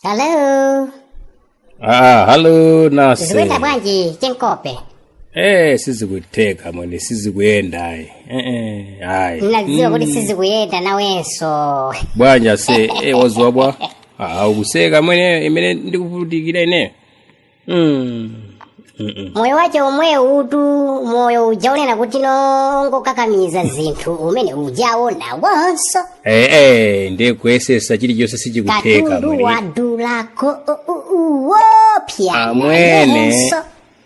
Hello. Ah, hello nasi. Zikuenda bwanji chenkope. Eh, sizikutheka mwene, sizikuyenda ayi. Eh eh, ayi. Ndinadziwa kuti sizikuyenda nawenso. Bwanji ase, eh wadzuka bwa. Ah, ukuseka mwene imene ndikuvutikira ine. Mm. Mm-mm. moyo wake omwewu uti moyo uja onena kuti ndongokakamiza zinthu umene ujawo nawonso Eh, eh, ndiye kuyesesa chilichonse sichikutheka katundu mwene. wadulako u- u- uwopya mwene nayenso.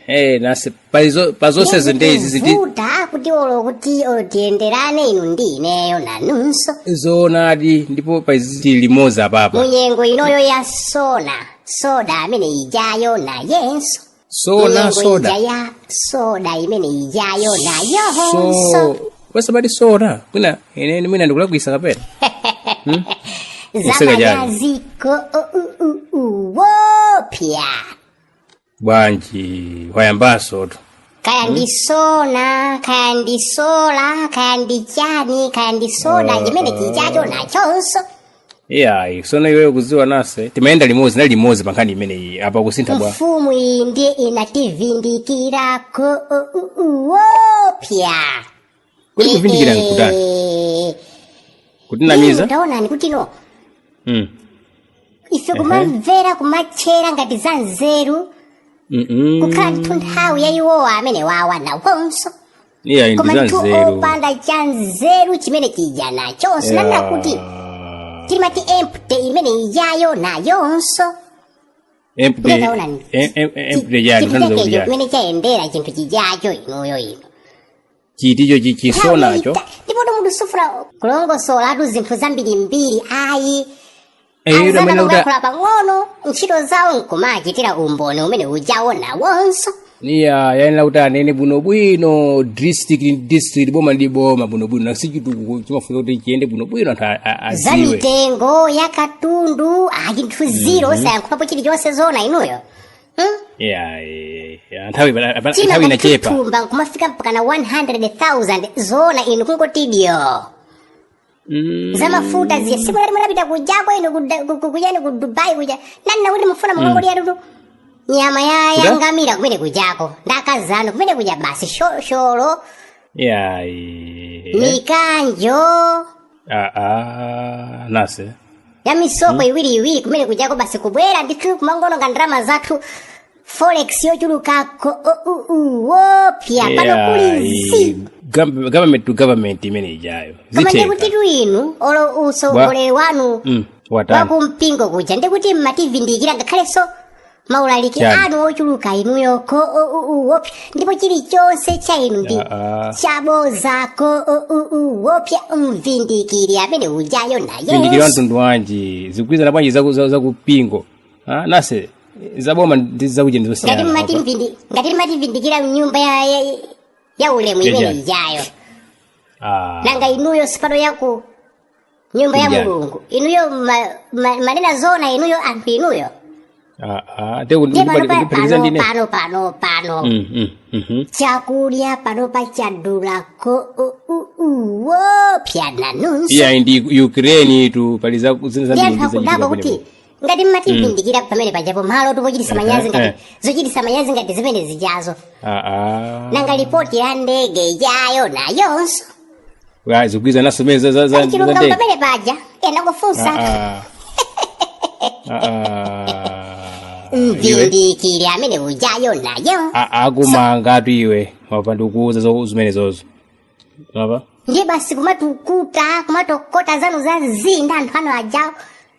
eh, nasi Palizo- pa zonsezo ndi izi ziti vuta kuti olo kuti olo tiyenderane inu ndi ineyo nanunso zoonadi ndipo paizi ziti limodzi apapa mu nyengo inoyo ya sona soda amene ijayo nayenso sona Munyengo ija soda ya soda imene ijayo nayonso so wasabati sona mwina ine mwina ndikulakwisa kapena Useka jani. zamanyaziko uwopya bwanji wayambansotu kaya ndi sona kaya ndi sola kaya ndi chani kaya ndi soda Ah, chimene chijacho nachonso iyayi sono iweyo kuziwa nasi timayenda limodzi na limodzi pa nkhani imeneyi apa kusintha wa mfumu iyi ndiye inativindikirako uwopya Kodi kuvindikira nkutani? Eh, Kutinamiza? taonani kuti no Mm. ife kumamvera kumatchera ngati za nzeru Mm-mm. kukhala ndithu nthawi ya iwowa amenewawa nawonso Iya ndi koma za ndithu nzeru. opanda cha nzeru chimene chija nachonso kaya kuti timati empty imene ijayo nayonso Empty. Ndiye taonani. em- em- Empty jani si nkujani. chimene chayendera chinthu chijacho inuyo ino chinthucho chachisonicho ndipo munthu sufuna kulongosolatu zinthu zambirimbiri ayi eyo amene kuti azangolankhula pang'ono ntchito zawo nkumachitira umboni umene ujawo nawonso iya yayenera kuti anene bwinobwino district ndi district boma ndi boma bwinobwino nacho chitukuko chimafuna kuti chiyende bwinobwino anthu a- a- za aziwe za mitengo ya katundu achinthu ziro osayankhulapo chilichonse zona inuyo ya eh, ya, nthawi bana- bana- thumba nthawi inachepa thumba kumafika mpaka na 100000 zoona inu kungotidyera Mm, za mafuta zija tsiku lija munapita kujako inu kuda- ku- ku- kujani ku dubai kuja nani nakuti mufuna mukangodyatu nyama ya Kuda? ya ngamira kumene kujako ndakazano kumene kuja basi shosholo ya eh, mikanjo Ah, ah, nase ya misoko iwiri iwiri kumene kujako basi kubwera ndithu kumangoononga ndalama zathu forex yochuluka ko o- u- u- wopya pano Yeah, kuli i- zi gov- government to government imene ijayo koma zitheka ndikutitu inu olo utsogoleri wanu Mm, watani wakumpingo kuja ndikuti mmativindikira ngakhalenso maulaliki Chani. anu ochuluka inuyo ko o u u wopya ndipo chilichonse cha inu ndi Ah, ah. chaboza ko o u u wopya mvindikiri amene ujayo naye mvindikiri wamtundu wanji zikugwirizana bwanji zaku- za- zakumpingo Ah, nase zaboma ndi zakuja ngati mmati ndizosiyana mvindi- ngati mmativindikira mnyumba ya, ya, ya ulemu Ya, imene ya. ijayo nanga inuyo si pano yaku nyumba ya Kuja. mulungu inuyo ma, ma, mmanena zoona inuyo anthu inuyo Ah, ah, te kuti- ndiye kuti- panopa kuti- kuti- pano ndine. pano pano pano Mm, mm, mhm. chakulya panopa chadula ko u- u- u- wopya nanunso iya ndi ukraine tu pali za zinthu ndi anthu zambiri akudapo kuti ngati mmativindikira pamene pajapo malotu pochitisa manyazi Eh, eh. ngati zochitisa manyazi ngati zimene zijazo aa nanga lipoti ya ndege ijayo nayonso Ah, zikugwirizananso mene za- za- za- ali za chilungamo ndege pamene paja ena kufunsa Ah, ah. Ah, ah. mvindikiri amene ujayo nayo A- akumangatu iwe wava ndikuuza zo- zimenezozo apa ndiye basi kumatukuta kumatokota zanu za mzinda anthu ano ajawo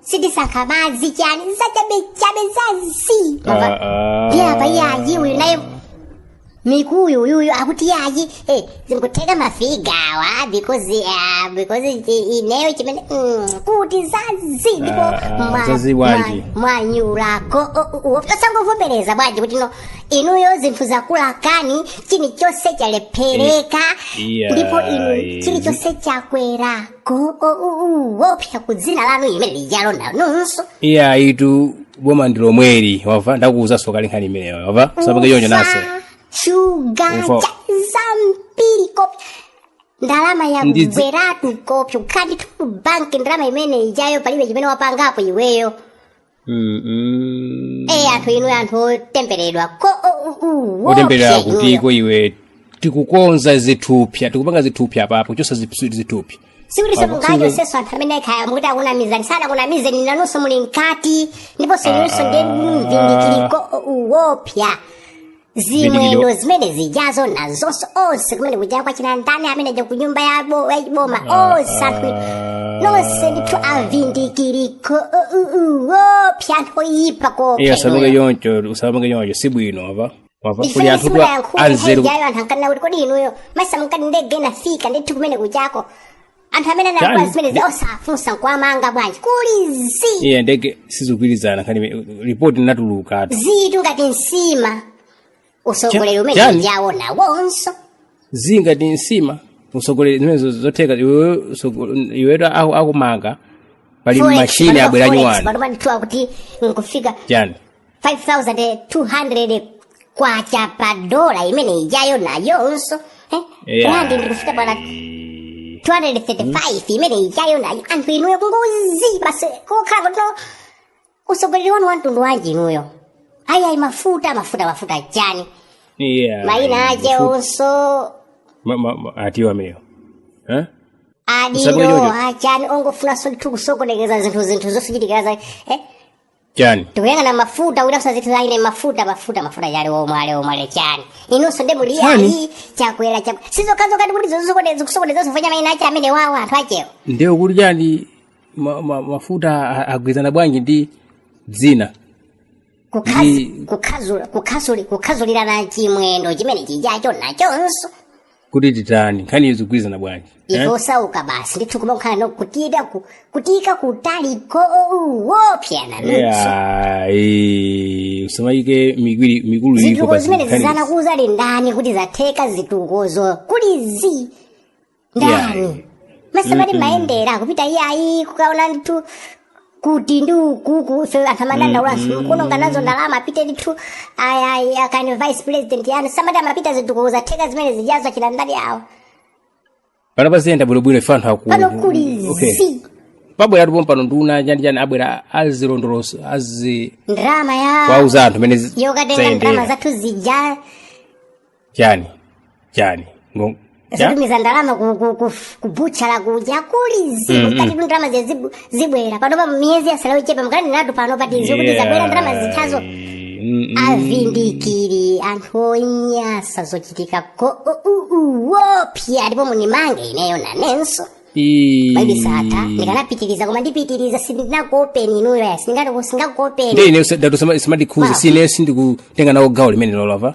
sitisankha madzi chani zachabechabe zazii Ah, ah. ndiye apa yayi uyu naye mikuyu uyuyu akuti yayi eh, zikutheka mafigawa because ah, because i- ineyo chimene mm, kuti zazii ndipo Ah, ah, mwa- zazii bwanji. mwa- mwanyulako O- o- o- osangovomereza bwanji kuti no inuyo zinthu zakulakani chilichonse chalephereka Iya, ndipo inu iya. chilichonse chakwera ko wopya kudzina lanu imene lijalo nanunso iye ayitu boma ndi lomweli wava ndakuwuzanso kale nkhani imeneyo wava usapange choncho nase shuga Ufa. cha zambiri kopya ndalama Ndidzi- yagweratu kopya ukhati tu banki ndalama imene ijayo palibe chimene wapangapo iweyo Mm, mm. e anthu inu anthu otemberedwa ko o- u- u- otemberera wopya kuti inuyo. ko iwe tikukonza zithupya tikupanga zithupya apapo kuchosa zithupya sikuti Pamwe simungacho sinzo- senso anthu amene kaya mukuti akunamizani sanakunamizeni nanunso muli mkati ndiponso inunso ndi mvindikiri ko uwopya zimwendo zimene zijazo nazonso onse kumene kujako achina ndani amene aja kunyumba ya bo- ya boma onse anthu nonse ndithu avindikiri koopya anthu oyipa iye asamuke kopya choncho usapange choncho si bwino apa wava kuli ndifuna anthu sikuda kuti yankhula anzeru nkhani ijayo anthu ankanena kuti kodi inuyo masamukati ndege inafika ndithu kumene kujako anthu amene anakula Chani? zimenezi osafunsa nkuwamanga bwanji kuli zi iye ndege sizikugwirizana kani ripoti linatulukatu zitu ngati nsima utsogoleri Cha- umene chani? ndi awo nawonso zili ngati nsima utsogoleri zimenezo zotheka iwewe utsogo- iwetu aku- akumanga pali Forex, mashini panopa abwera forex, nyuwani panopa ndithu kuti nkufika chani 5200 kwacha pa dola imene ijayo nayonso eh? Yeah. randi nkufika pa 235 imene ijayo nayo anthu inuyo kungozi basi kokhala kuti no utsogoleri wanu wamtundu wanji inuyo ayayi mafuta mafuta mafuta chani Yeah. maina ache Mafuta- onso ma- ma- ma- atiwa ameneyo Eh? adindo Usagojojo. achani ongofunanso ndithu kusokonekeza zinthu zinthu zochitikira za eh? chani tikuyang'ana mafuta kuti asadzathe ine mafuta mafuta mafuta ali omwe ali omwe ali chani inunso nde muli Chani? ayi akwera akwe sizokhazo ndi kuti zosokonezanso fanya maina ache amenewawa anthu achewo ndiye kuti chani ma, ma, mafuta a- agwirizana bwanji ndi dzina Ndi- kukhazulirana chimwendo chimene chijacho nachonso kuti titani nkhani izi zikugwirizana bwanji eh? ife osauka basi ndithu kumakhala mu kutiika ku- kutiika kutali koopsa Yeah, eh, musamaike migwiri mikulu iliko zitukuko pa zimene nkhani izi. zidzanenadza ali ndani kuti zatheka zitukukozo kuli zi ndani Yeah. musamati mayendera kupita iyayi kukaona ndithu kuti ndi ukuuku so anthu amadandaulanso mukuononga nazo ndalama apite ndithu aya- aya- akane vice president yanu samati amapita zitukuko zatheka zimene zijazo achita ndani awo pano paziyenda bwinobwino ife anthu aku pano kuli Okay. zi pabwera ndipo pano nduna chandichani abwera azilondoloso azi ndalama yakuwauza anthu mene yokatenga ndalama zayendera zathu zija chani chani Ngo- cha- zikutumiza ndalama ku- ku- ku- kubuchala kuja kuli zibu Mm, mm. nkani tu ndalama zija zibu- zibwera panopa miyezi yatsalayo yochepa nkani natu pano pati zokuti zabwera ndalama Yeah. zithazo Mm, mm. avindikire anthu onyasa zochitika koopsa ndipo munimange ineyo nanenanso Ii. maibisata ndikanapitiriza koma ndipitiriza sindinakuopeni inuyo ya sindingati sindingakuopeni nde ine data simandikhudza Wow. sine sindikutenga nawo gawo limene lolova